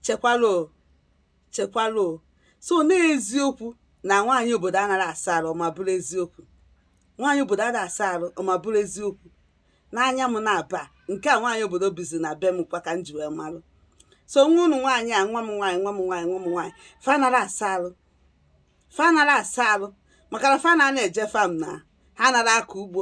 chekwalụ chekwalụ so n'eziokwu na nwaanyị obodo anaghị asa arụ ma bụrụ eziokwu nwaanyị obodo anaghị asa arụ ma bụrụ eziokwu n'anya m na-aba nke a nwaanyị obodo bizi na be m kwa ka m ji wee marụ so nwa ụnụ nwaanyị a nwa m nwaanyị nwa m nwaanyị nwa m nwaanyị fa anara asa arụ fa anara asa arụ maka na fa na-eje farm na ha anara akọ ugbo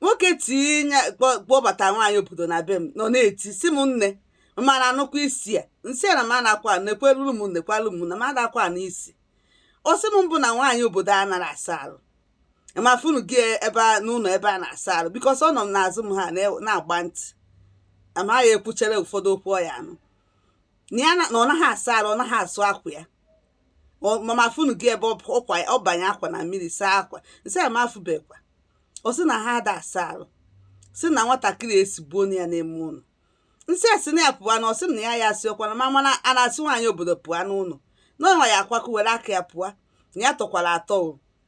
nwoke tinye kpọbata nwaanyị obodo na be m nọ na-eti sị m nne mana anụkwa isi ya nsị na m anakwa nekweluru m nekwalụ m na m adakwa na isi ọ sị m ọ bụ na nwaanyị obodo anara asa arụ m afụnụ gị ebe n'ụlọ ebe a na-asa arụ because ọ nọ m n'azụ m ha na-agba ntị amaghị ekwuchere ụfọdụ okwu ọ ya-anụ na ya na ọ naghị asa arụ ọ naghị asụ akwa ya mama afụnụ gị ebe ọ banye akwa na mmiri saa akwa nsị ya m afụbekwa ọ sị na ha ada asa arụ sị na nwatakịrị esigbuo ya n'ime ụlọ nsị esi na ya pụwa na ọ sị na ya ya asị ọ kwa na ma mana a na-asị nwaanyị obodo pụọ n'ụlọ n'ọnwa ya akwakọ were aka ya pụọ na ya tọkwara atọ o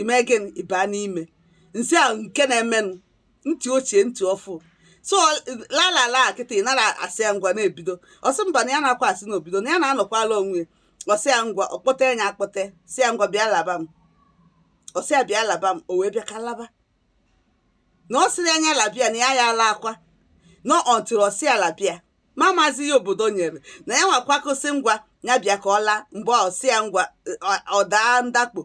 ime gịnị ịba n'ime nsị a nke na-emenụ ntị ochie ntị ọfụụ so lalala kịta ị nara asị ya ngwa na-ebido ọ sị mba na ya na-akwa asị n'obido na ya na-anọkwala onwe ya ọ sị ya ngwa ọ kpọta ya akpọte sị ya ngwa bịa laba m ọ sị ya bịa laba m o wee bịa ka laba na ọ sịrị anya labia na ya ya ala akwa na until ọ sị ya labia ma mazi ya obodo nyere na ya nwa kwakọsị ngwa ya bịa ka ọ laa mgbe ọ sị ya ngwa ọ daa ndakpo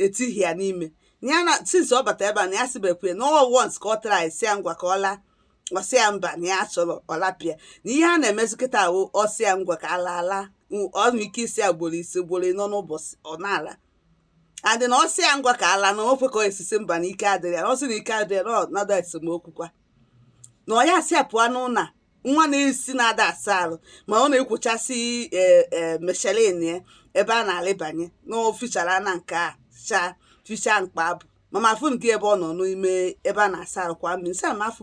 etighị ya n'ime ya na since ọ bata ebe a na ya sibekwe na ọ once ka ọ tara anyị sị ya ngwa ka ọ laa ọ sị ya mba na ya chọrọ ọlapịa na ihe a na-emezi kịta ahụ ọ sị ya ngwa ka ala ala ọnụ ike isi ya gboro isi gboro nọ n'ụbọchị ọ na-ala adị na ọ sị ya ngwa ka ala na ofe ka esisi mba na ike adịrị ya na ọ sị na ike adịrị ya na ọnọdụ esemokwu kwa na ọ ya-asị ya pụọ n'ụlọ nwa na-esi na ada asa arụ ma ọ na-ekwochasị e, e, meshelin ya ebe a na-alịbanye na o fichara na nke a cha ficha mkpa abụ mama afụnụ gị ebe ọ nọ n'ime ebe a na-asa arụ kwa mmiri nsị a ma afụ